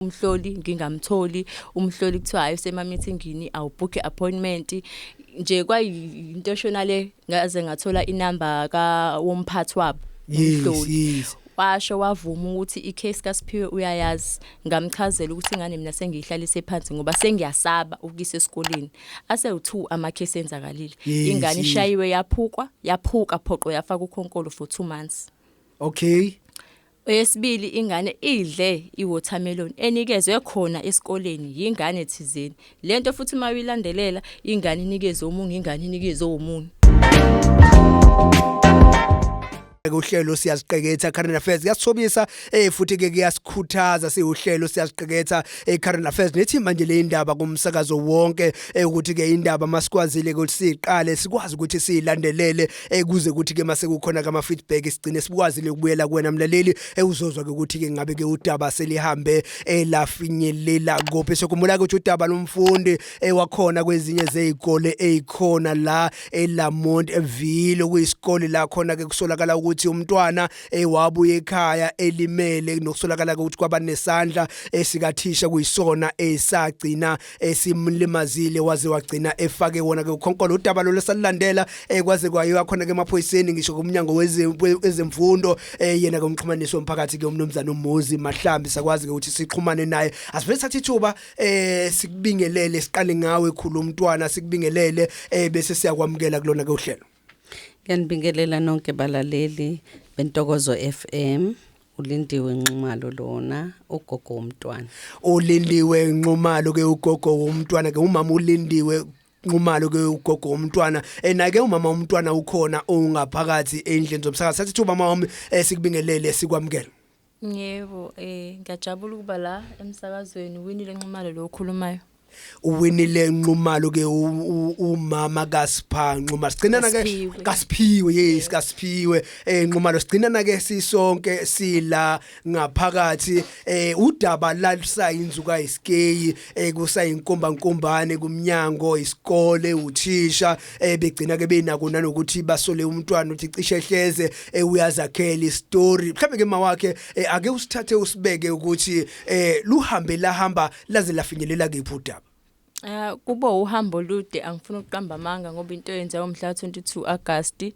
umhloli ngingamtholi umhloli kuthiwa hayi usemamithingini awubhukhe appointment nje kwayinto eshona le ngaze ngathola inamba ka womphathi wabo umhloli washo wavuma ukuthi icase kaSiphiwe uyayazi ngamchazela ukuthi ingane mina sengiyihlalise phansi ngoba sengiyasaba ukuyisa esikoleni ase u2 ama case enzakalile ingane ishayiwe yaphukwa yaphuka phoqo yafa kukhonkolo for 2 months okay Eyesibili ingane idle iwatermelon enikezwe khona esikoleni yingane thizeni. Lento futhi uma uyilandelela ingane inikeze omunye ingane inikeze omunye. uhlelo siyaziqeketha current affairs kuyasithobisa eh futhi ke kuyasikhuthaza siwuhlelo siyaziqeketha eh current affairs nethi manje le indaba kumsakazo wonke eh ukuthi ke indaba masikwazile ukuthi siqale sikwazi ukuthi siyilandelele Eh kuze kuthi ke mase kukhona kama feedback sigcine sibukwazile ukubuyela kuwena mlaleli ewuzozwa ke ukuthi ke ngabe ke udaba selihambe elafinyelela kophi sokumbula ukuthi udaba lomfundi ewakhona kwezinye zezikole ezikhona la eLamont Ville kuyisikole la khona ke kusolakala ukuthi umntwana ewabuye ekhaya elimele nokusolakala ukuthi kwabanesandla esikathisha kuyisona esagcina esimlimazile waze wagcina efake wona ke ukhonkolo udaba lo lesalandela eh, kwaze kwayiwa khona ke emaphoyiseni ngisho kumnyango wezemfundo eh, yena ke umxhumanisi womphakathi ke umnumzane umuzi mahlambi sakwazi ke ukuthi sixhumane naye asivele sathi ithuba eh sikubingelele siqale ngawe khulu umntwana sikubingelele eh bese siyakwamukela kulona ke uhlelo Ngiyanibingelela nonke balaleli bentokozo FM. ulindiwe nxumalo lona ugogo womntwana ulindiwe nxumalo ke ugogo womntwana ke umama ulindiwe nxumalo ke ugogo womntwana enake eh, umama womntwana ukhona ongaphakathi endlini zomsakazi sathi umama wami eh, sikubingelele sikwamukele Yebo, eh ngiyajabula ukuba la emsakazweni Winile Nxumalo lo okhulumayo. uwinile nxumalo ke u- u- umama kaSipha Nxuma sigcinana ke Kasiphiwe. kaSiphiwe yes kaSiphiwe eh Nxumalo sigcinana ke sisonke sila ngaphakathi eh udaba lalisa inzuka isikeyi ekusayinkumbankumbane kumnyango isikole uthisha ebegcina eh, ke benako nanokuthi basole umntwana uthi cishe hleze eh, uyazakhela istory mhlawumbe ke mawakhe eh, ake usithathe usibeke ukuthi luhambe lahamba laze lafinyelela kephi udaba Uh kubo uhambo lude angifuni ukuqamba amanga ngoba into yenza umhla 22 August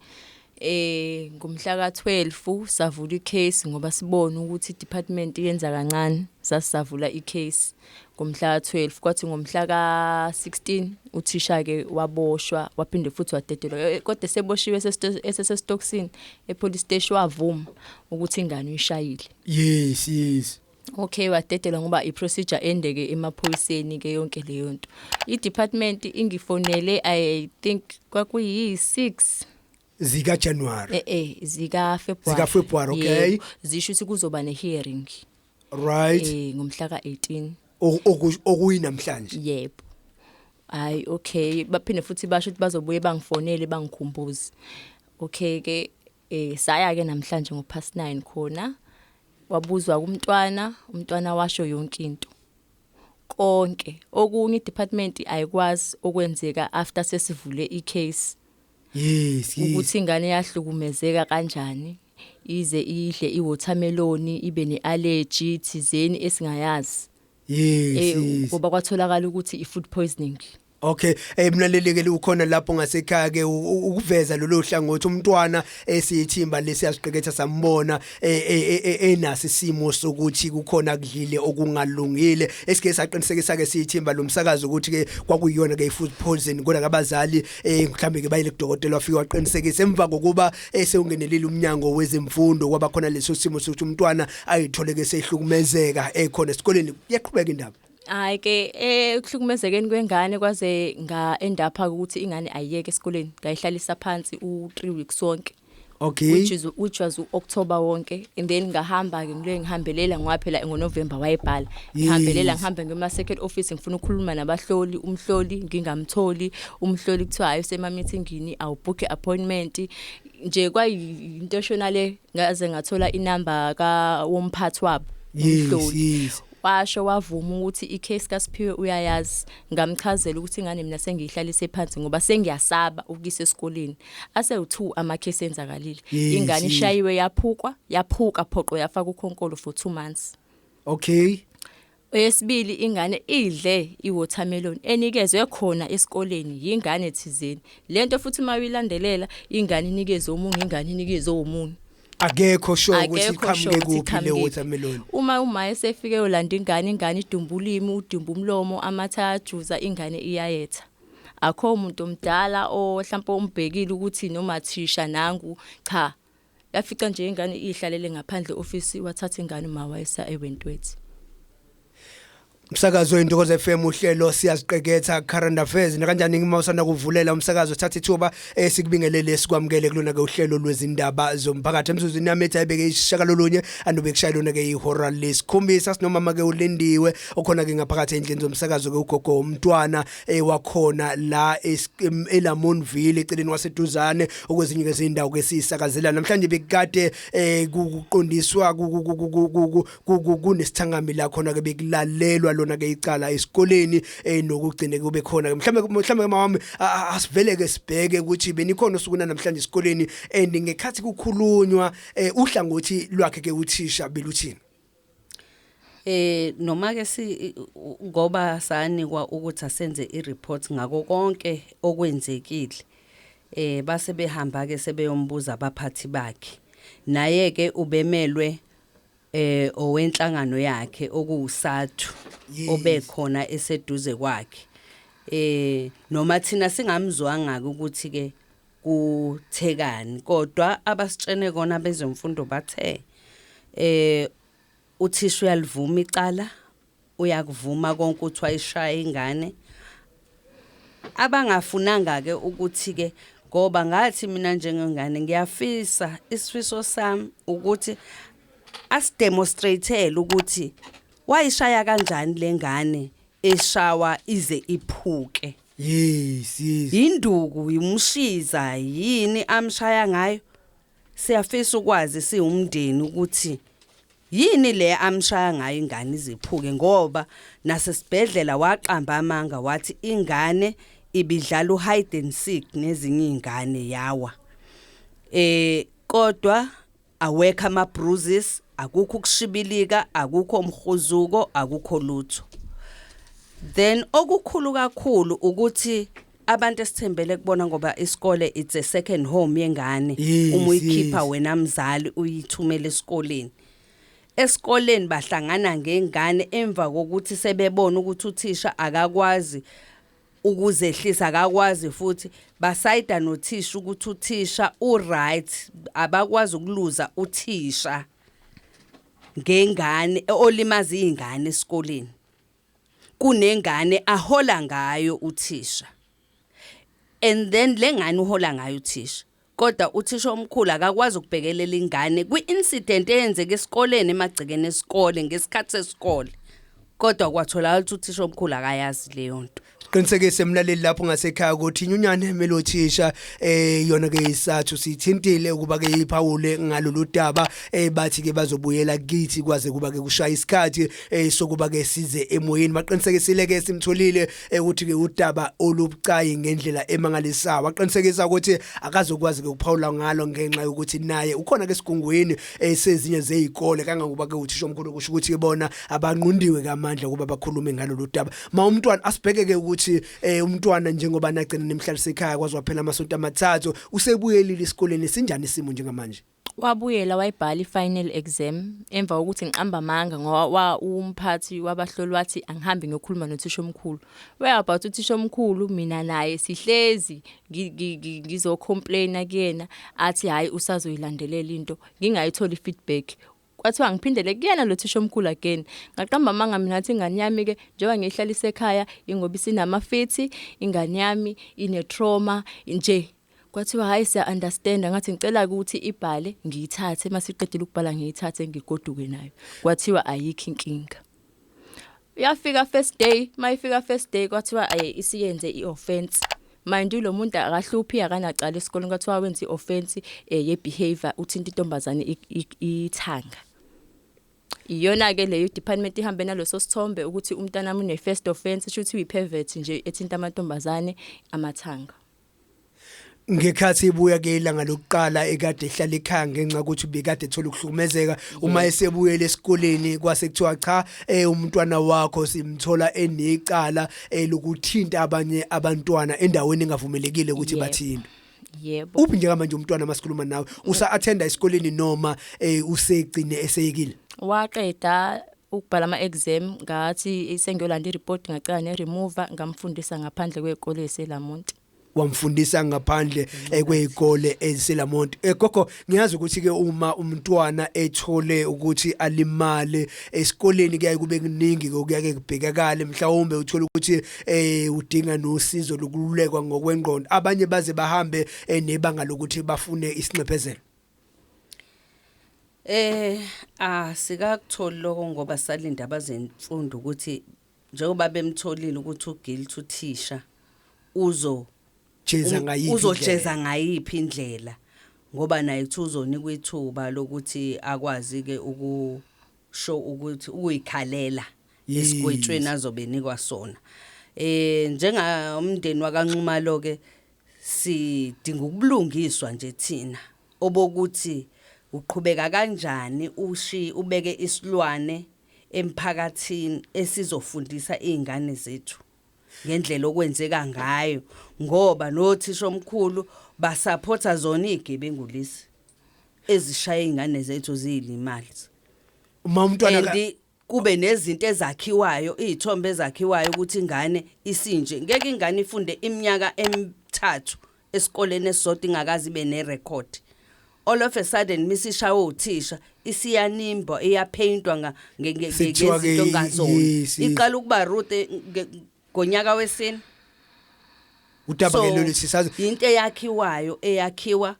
Eh ngomhla ka-12 savula i-case ngoba sibona ukuthi i-department yenza kancane sasisavula i-case ngomhla ka-12 kwathi ngomhla ka-16 uthisha-ke waboshwa waphinde futhi wadedelwa eh, kodwa eseboshiwe esesesitokisini epolice steshi wavuma ukuthi ingane uyishayile yes yes Okay wadedelwa ngoba i procedure endeke emaphoyiseni ke yonke leyo nto. I department ingifonele I think kwakuyi 6 zika January eh eh zika February zika February okay Yebo, zisho ukuthi kuzoba ne hearing right eh ngomhla ka 18 Oku- oku- okuyinamhlanje yebo hayi okay baphinde futhi basho ukuthi bazobuye bangifonele bangikhumbuze okay ke Eh saya ke namhlanje ngo past 9 khona wabuzwa kumntwana umntwana washo yonke into konke okunye idepartment ayikwazi okwenzeka after sesivule icase yes ukuthi ingane yahlukumezeka kanjani ize idle iwatermelon ibe neallergy thizeni esingayazi Yes, eh yes. ngoba kwatholakala ukuthi i food poisoning Okay, eh mlalelekele ukhona lapho ngasekhaya ke u- ukuveza lolu hlangothi umntwana esiyithimba lesi yasiqeketha sambona eh, eh, eh, enasi simo sokuthi kukhona kudlile okungalungile esike saqinisekisa ke siyithimba lomsakazo ukuthi ke kwakuyona ke ifood poison kodwa kabazali eh mhlambe ke bayile kudokotela wafika waqinisekisa emva kokuba esewungenelile umnyango wezemfundo kwaba khona leso simo sokuthi umntwana ayitholeke sehlukumezeka ekhona esikoleni yaqhubeka indaba hayi ke ekuhlukumezekeni kwengane kwaze nga endapha ukuthi ingane ayiyeke esikoleni ngayihlalisa phansi u3 weeks sonke okay which is which was uOctober wonke and then ngahamba ke ngile ngihambelela ngoba phela ngoNovember wayebhala ngihambelela ngihambe ngema second office ngifuna ukukhuluma nabahloli umhloli ngingamtholi umhloli kuthiwa hayi usemamithingini awubhukhe appointment nje kwayinto eshona le ngaze ngathola inamba ka womphathi wabo umhloli washo wavuma ukuthi icase kaSiphiwe uyayazi ngamchazela ukuthi ingane mina sengiyihlalise phansi ngoba sengiyasaba ukuyisa esikoleni ase u2 ama case enzakalile ingane ishayiwe yaphukwa yaphuka phoqo yafa kukhonkolo for 2 months okay Eyesibili ingane idle iwatermelon enikezwe khona esikoleni yingane thizeni. Lento futhi uma uyilandelela ingane inikeze omunye ingane inikeze omunye. Akekho sho ukuthi iqhamuke kuphi le watermelon. Uma uma esefike yolanda ingane ingane idumba ulimi udumba umlomo amatha ajuza ingane iyayetha. Akho umuntu omdala ohlawumbe umbhekile ukuthi noma thisha nangu cha yafica nje ingane ihlalele ngaphandle office wathatha ingane uma wayesa ewentwethi Umsakazo wentokozo FM uhlelo siyaziqeketha current affairs nakanjani ngima usanda kuvulela umsakazo thatha ithuba esikubingelele eh, sikwamukele kulona ke uhlelo lwezindaba zomphakathi emzuzwini yami ethi ayibeke ishaka lolunye anobe kushaya lona ke ihora lesikhombisa sinomama ke ulindiwe okhona ke ngaphakathi endlini zomsakazo ke ugogo umntwana eh, wakhona la es- em- eLamontville eceleni waseduzane okwezinye ke izindawo ke sisakazela namhlanje bekade eh, ku- kuqondiswa ku- ku- ku- ku- ku- ku- ku- ku- ku- kunesithangami la khona ke bekulalelwa lona ke icala esikoleni eh, nokugcine kube khona ke mhlawumbe mhlawumbe ke mawami a- a- asivele ke sibheke ukuthi benikhona usukuna namhlanje esikoleni and ngekhathi kukhulunywa eh, uhlangothi lwakhe ke uthisha beluthini Eh noma ke si ngoba sanikwa ukuthi asenze ireport ngako konke okwenzekile eh base behamba ke sebeyombuza abaphathi bakhe naye ke ubemelwe eh owenhlangano yakhe okuwusathu obekhona eseduze kwakhe eh noma thina singamzwanga ukuthi ke kuthekani kodwa abasitshene kona bezemfundo bathe eh uthisha uyalivuma icala uyakuvuma konke ukuthi wayishaya ingane abangafunanga ke ukuthi ke ngoba ngathi mina njengengane ngiyafisa isifiso sami ukuthi asidemonstrate ukuthi wayishaya kanjani lengane eshawa ize iphuke Yes, yes. yinduku yimushiza yini amshaya ngayo siyafisa ukwazi siwumndeni ukuthi yini le amshaya ngayo ingane iziphuke ngoba nasesibhedlela waqamba amanga wathi ingane ibidlala uhide and seek nezinye izingane yawa eh kodwa Awekho ama bruises, akukho ukushibilika, akukho umhuzuko, akukho lutho. Then okukhulu kakhulu ukuthi abantu esithembele kubona ngoba isikole it's a second home yengane Yes, uma uyikhipha yes. wena mzali uyithumela esikoleni esikoleni bahlangana ngengane emva kokuthi sebebona ukuthi uthisha akakwazi ukuzehlisa akakwazi futhi basayida nothisha ukuthi uthisha uright abakwazi ukuluza uthisha ngengane olimaza izingane esikoleni kunengane ahola ngayo uthisha and then lengane uhola ngayo uthisha kodwa uthisha omkhulu akakwazi ukubhekelela ingane kwi-incident eyenzeka esikoleni emagcekeni esikole ngesikhathi sesikole kodwa kwatholakala ukuthi uthisha omkhulu akayazi leyo nto qinisekise mlaleli lapho ngasekhaya ukuthi inyunyane melothisha eh yona ke isathu sithintile ukuba ke iphawule ngalolu daba eh bathi ke bazobuyela kithi kwaze kuba ke kushaya isikhathi eh sokuba ke size emoyeni baqinisekisile ke simtholile ekuthi ke udaba olubucayi ngendlela emangalisayo waqinisekisa ukuthi akazokwazi ke ukuphawula ngalo ngenxa yokuthi naye ukhona ke sigungwini esezinye eh, zezikole kangangoba ke uthisha omkhulu kusho ukuthi ke bona abanqundiwe kamandla ukuba bakhulume ngalolu daba ma umntwana asibheke ke ukuthi eh, umntwana njengoba nagcina nemhlalise ekhaya kwazi waphela amasonto amathathu usebuyelile isikoleni sinjani isimo njengamanje Wabuyela wayibhala i-final exam emva kokuthi ngiqamba amanga ngoba umphathi wabahloli wathi angihambe ngiyokhuluma nothisha omkhulu. Where about uthisha omkhulu mina naye sihlezi ngizocomplaina kuyena athi hhayi usazoyilandelela into ngingayitholi i-feedback. kwathiwa ngiphindele kuyena lo thisha omkhulu again ngaqamba amanga mina ngathi ingane yami ke njengoba ngiyihlalisa ekhaya ingoba isinamafithi ingane yami ine trauma nje kwathiwa hayi siya understand ngathi ngicela ukuthi ibhale ngiyithathe masiqedile ukubhala ngiyithathe ngigoduke nayo kwathiwa ayikho inkinga yafika first day mayifika first day kwathiwa ayi isiyenze ioffense mind you lo muntu akahluphi akanacala esikoleni kwathiwa wenza ioffense eh, ye behavior uthinta intombazane ithanga iyona ke leyo department ihambe naloso sithombe ukuthi umntana mune first offense shuthi uyipervert nje ethinta amantombazane amathanga ngekhathi ibuya ke ilanga lokuqala ekade ehlala ekhaya ngenxa ukuthi bekade ethola ukuhlukumezeka uma esebuyele esikoleni kwase kuthiwa cha eh umntwana wakho simthola enecala eh, lokuthinta abanye abantwana endaweni engavumelekile ukuthi bathinte yebo uphi nje manje umntwana masikhuluma nawe usa attenda esikoleni noma eh usegcine eseyekile waqeda ukubhala ama-exam ngathi sengiyolanda i-report ngacela ne-remover ngamfundisa ngaphandle kwey'kole eselamont wamfundisa ngaphandle eh, kwezikole eziselamont eh, gogo ngiyazi ukuthi ke uma umntwana ethole ukuthi alimale esikoleni kuyaye kube kuningi okuyake kubhekakale mhlawumbe uthola ukuthi eh udinga nosizo lokululekwa ngokwengqondo abanye baze bahambe eh, nebanga lokuthi bafune isinxephezelo Eh asikakutholi lokho ngoba salinda abazemfundo ukuthi njengoba bemtholile ukuthi uguilt uthisha uzo jeza ngayiphi uzojeza ngayiphi indlela ngoba naye kuthi uzonikwa ithuba lokuthi akwazi ke ukusho ukuthi ukuyikhalela esigwetshweni azobe nikwa sona eh njengomndeni wakanxumalo ke Sidinga ukubulungiswa nje thina obokuthi uqhubeka kanjani ushi ubeke isilwane emphakathini esizofundisa izingane zethu ngendlela okwenzeka ngayo ngoba nothisha omkhulu basaphotha zona izigebengu lezi ezishaya izingane zethu ziyilimali. Uma umntwana kube nezinto ezakhiwayo izithombe ezakhiwayo ukuthi ingane isinje ngeke ingane ifunde iminyaka emithathu esikoleni esisodwa ingakazi ibe nerecord all of a sudden misishawa uthisha isiyanimba iyapheyintwa ngezinto ngazona iqala ukuba rude ngonyaka wesini udaba lelo lesisazi into eyakhiwayo eyakhiwa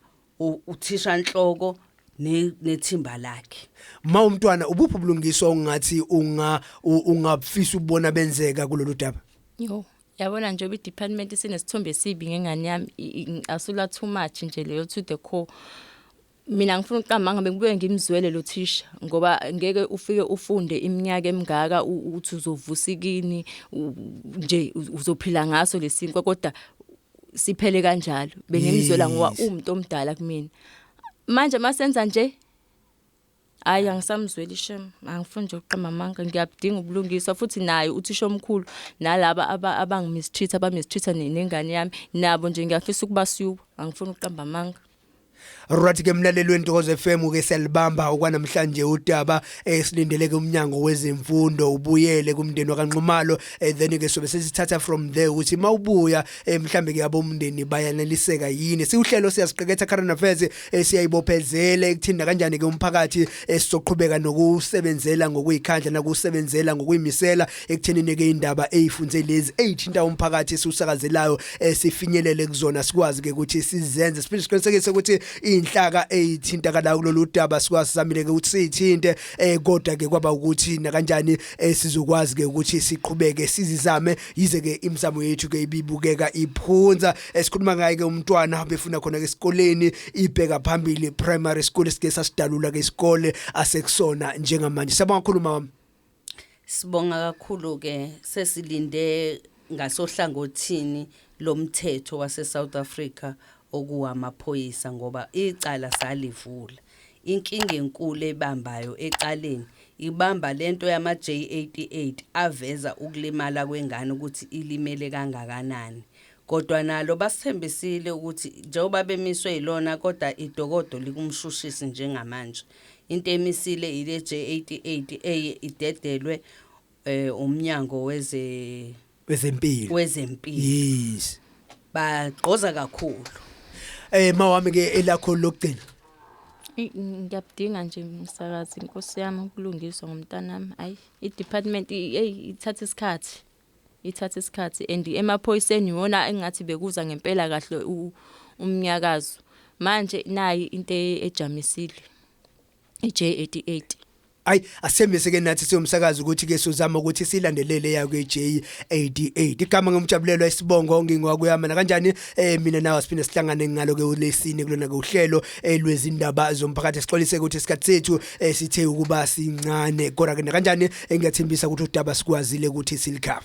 uthishanhloko nethimba lakhe ma umntwana ubuphi ubulungiswa ongathi unga ungabufisa ubona benzeka kulolu daba yo yabona nje obidepartment sinesithombe esibi ngengane yami ngicasulwa too much nje leyo to the core mina ngifuna ukuqamba ngabe kubuye ngimzwele lo thisha ngoba ngeke ufike ufunde iminyaka emingaka uthi uzovusikini nje uzophila ngaso lesinkwa kodwa siphele kanjalo bengimzwela ngoba umuntu omdala kumina manje masenza nje hayi angisamzweli shem angifuni nje ukuqamba amanga ngiyabudinga ubulungiswa futhi naye uthisha omkhulu nalaba abangimistreat abamistreat nengane yami nabo nje ngiyafisa ukubasuka angifuni ukuqamba amanga Right ke mlaleli wentokozo FM ke siyalibamba okwanamhlanje udaba esilindeleke umnyango wezemfundo ubuyele kumndeni wakanxumalo eh, then ke sobe sesithatha from there ukuthi mawubuya eh, mhlambe ke abomndeni bayaneliseka yini siuhlelo siyasiqeketha current affairs eh, siyayibophezela ekuthinda kanjani ke umphakathi esizoqhubeka nokusebenzela ngokuyikhandla nakusebenzela ngokuyimisela ekuthenini ke indaba eyifunze lezi eyithinta umphakathi esiwusakazelayo esifinyelele kuzona sikwazi ke ukuthi sizenze siphinde siqinisekise ukuthi inhlaka eyithinta kala kulolu daba sikwazi samile ke ukuthi sithinte eh kodwa ke kwaba ukuthi nakanjani eh, sizokwazi ke ukuthi siqhubeke sizizame yize ke imizamo yethu ke ibibukeka iphunza esikhuluma ngaye ke umntwana befuna khona ke esikoleni ibheka phambili primary school sike sasidalula ke isikole asekusona njengamanje sabonga kakhulu mama Sibonga kakhulu ke sesilinde ngasohlangothini lomthetho wase South Africa okuwamaphoyisa ngoba icala salivula. Inkinga enkulu ebambayo ecaleni ibamba lento yama J88 aveza ukulimala kwengane ukuthi ilimele kangakanani. Kodwa nalo basithembisile ukuthi njengoba bemiswe yilona kodwa idokodo likumshushisi njengamanje. Into emisile ile J88 eye idedelwe eh umnyango weze wezempilo wezempilo yes bagqoza kakhulu eh mawami ke elakho lokugcina ngiyabudinga nje msakazi inkosi yami ukulungiswa ngomntanami ayi i department hey ithatha isikhathi Ithatha isikhathi and emaphoyiseni iwona engathi bekuza ngempela kahle umnyakazo. Manje nayi into e-, ejamisile. I-J88. Ay asithembise ke nathi siyomsakaza ukuthi ke sozama ukuthi silandelele ya kwe J88 igama ngomjabulelwa isibongo ngingwakuyama na kanjani eh mina nawe siphinde sihlangane ngalo ke ulesine kulona ke uhlelo elwezindaba eh, zomphakathi sixolise ukuthi isikhathi sethu eh, sithe ukuba sincane kodwa ke nakanjani engiyathembisa ukuthi udaba sikwazile ukuthi silikhava